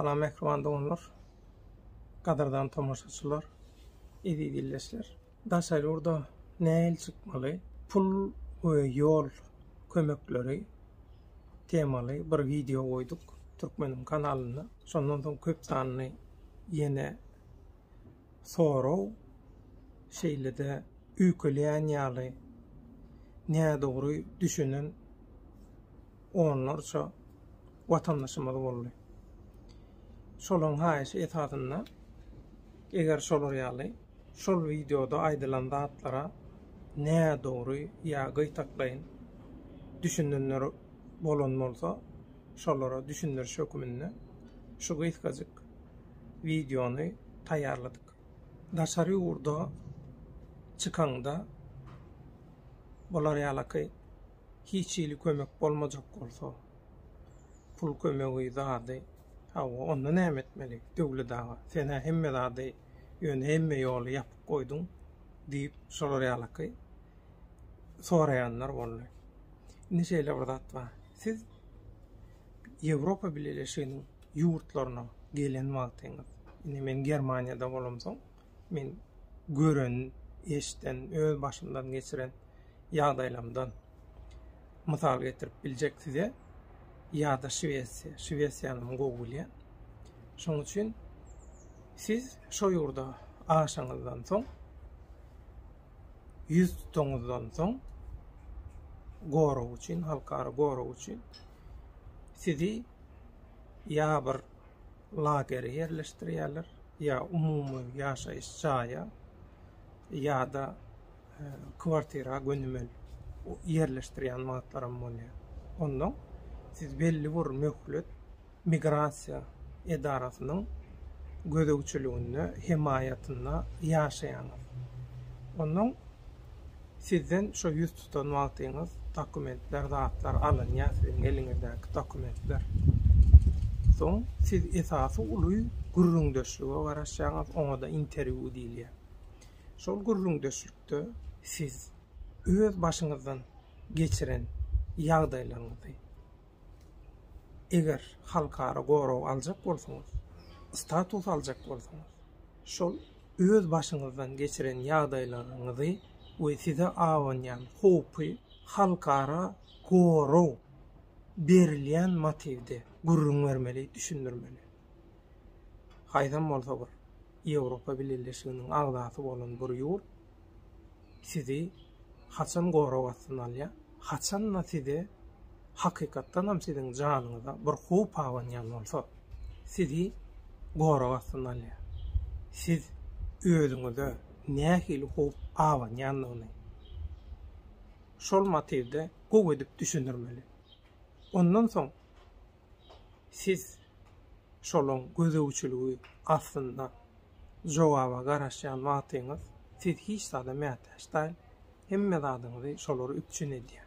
Salam mehriban doganlar, gadyrdan tomaşaçylar, eziz ildeşler. Daşary ýurda nähili çykmaly? Pul we ýol kömekleri temaly bir wideo goýduk Türkmeniň kanalynda. Şondan soň köp sanly ýene sorag, şeýle-de üýkeleýän ýaly nädogry düşünen onlarça watandaşymyz boldy. Şolaryň haýyşy esasynda eger şolar ýaly Şol wideoda aýdylan zatlara nädogry ýa gytaklaýyn düşünenler bolan bolsa, şolara düşündiriş höküminde şu gysgajyk wideony taýýarladyk. Daşary ýurda çykaňda bular ýalaky hiç hili kömek bolmajak bolsa, pul kömegi zady, hawa onda näme etmeli? Döwlet aga, sen-ä hemme zady ýöne hemme ýoly ýapyp goýduň diýip şolar ýalaky soraýanlar boldy. Indi şeýle bir zat bar. Siz Ýewropa Bileleşiginiň ýurtlaryna gelen wagtyňyz, indi men Germaniýada bolamsoň, men gören, eşden, öz başymdan geçiren ýagdaýlamdan mysal getirip biljek size ýa-da Şwesiýa. Şwesiýany men gowy bilýän. Şonuň üçin siz şo ýurda aşaňyzdan soň ýüz tutaňyzdan soň gorag üçin, halkara gorag üçin sizi ýa bir lagere ýerleşdirýärler, ýa umumy ýaşaýyş jaýa, ýa-da kwartira gönümel ýerleşdirýän wagtlaram bolýar. Ondan siz belli bir möhlet migrasiýa edarasynyň gözegçiliginde, hemaýatynda ýaşaýaňyz. Ondan sizden şo ýüz tutan wagtyňyz dokumentler, zatlar alynýar, siziň eliňizdäki dokumentler. Soň siz esasy uly gürrüňdeşlige garaşýaňyz, oňa-da interwýu diýilýär. Şol gürrüňdeşlikde siz öz başyňyzdan geçiren ýagdaýlaryňyzy, eger halkara gorag aljak bolsaňyz, status aljak bolsaňyz, şol öz başyňyzdan geçiren ýagdaýlaryňyzy we size abanýan howpy halkara gorag berilýän motiwde gürrüň bermeli, düşündirmeli. Haýsam bolsa bir Ýewropa Bileleşiginiň agzasy bolan bir ýurt sizi haçan gorag astyna alýar, haçan-da size hakykatdanam siziň janyňyza bir howp abanýan bolsa, sizi gorag astyna alýar. Siz özüňize nähili howp abanýandygyny şol motiwde gowy edip düşündirmeli. Ondan soň siz şolaň gözegçiligi astynda jogaba garaşýan wagtyňyz, siz hiç zada mätäç däl, hemme zadyňyzy şolar üpjün edýär.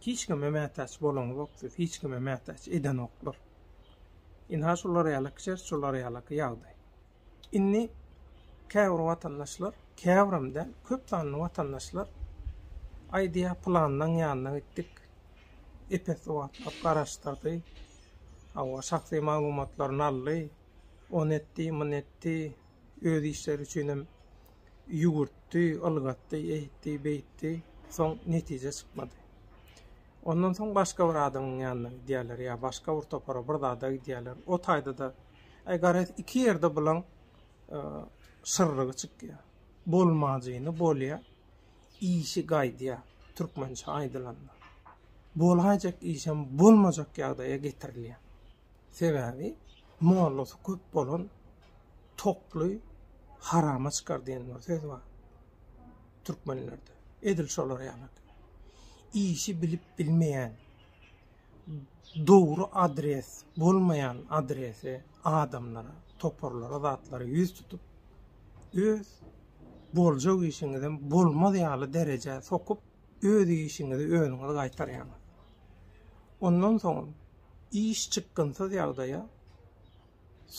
Hiç kime mätäç bolaňzok siz, hiç kime mätäç edenoklar. Ynha şular ýaly çert, şular ýaly ýagdaý. Indi käbir watandaşlar, käbirem däl, köp sanly watandaşlar aýdýar, pylanynyň ýanyna gitdik, epes sowatlar garaşdyrdy, hawa, şahsy maglumatlaryny aldy, ony etdi, muny etdi, öz işleri üçinem ýüwürtdi, ylgatdy, eýtdi, beýtdi, soň netije çykmady. Ondan soň başga bir adamyň ýanyna gidýärler ýa başga bir topara, bir zada gidýärler. O taýda-da Aý garaz iki ýerde bulaň şyrrygy çykýar. Bolmajyny bolýar, işi gaýdýar, türkmençe aýdylanda. Bolaýjak işem bolmajak ýagdaýa getirilýär. Sebäbi mollasy köp bolan toply harama çykar diýen bir söz bar. Türkmenlerde. Edil şolar ýaly. Işi bilip bilmeýän dogry adres bolmaýan adrese adamlara toparlara zatlara ýüz tutup öz boljak işiňizem bolmaz ýaly derejä sokup öz işiňizi özüňiz gaýtarýaňyz ondan soňam iş çykgynsyz ýagdaýa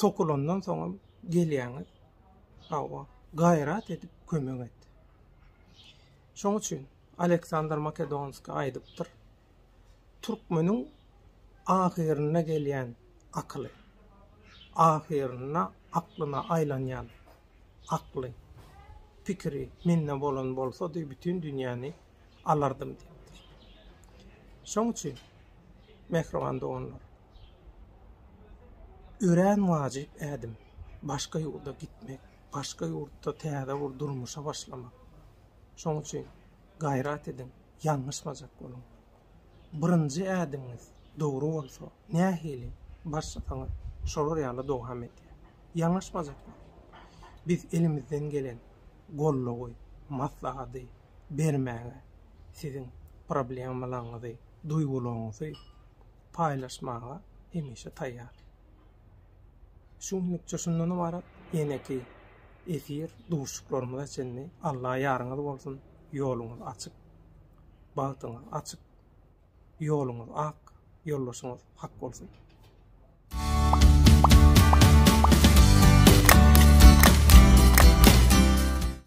sokulandan soňam gelýäňiz hawa gaýrat edip kömek et şoň üçin Aleksandr Makedonskiý aýdypdyr Türkmeniň ahyryna gelýän akyly, ahyrynda aklyna aýlanýan akly, pikiri mende bolan bolsady, bütin dünýäni alardym diýipdir. Şoň üçin, mähriban doganlar, örän wajyp ädim, başga ýurda gitmek, başga ýurtda täze bir durmuşa başlamak. Şoň üçin gaýrat ediň! ýalňyşmajak boluň. Birinji ädimiňiz dogry bolsa, nähili başlasaňyz, şolar ýaly dowam edýär. Ýalňyşmajak boluň. Biz elimizden gelen goldawy, maslahady bermäge, siziň problemalaryňyzy, duýgularyňyzy paýlaşmaga hemişe taýýar. Şu günlükçe şundan ybarat, eneki efir duşuklarymyza çenli Alla ýaryňyz bolsun, ýoluňyz açyk, bagtyňyz açyk, ýoluňyz ak, ýoldaşyňyz hak bolsun.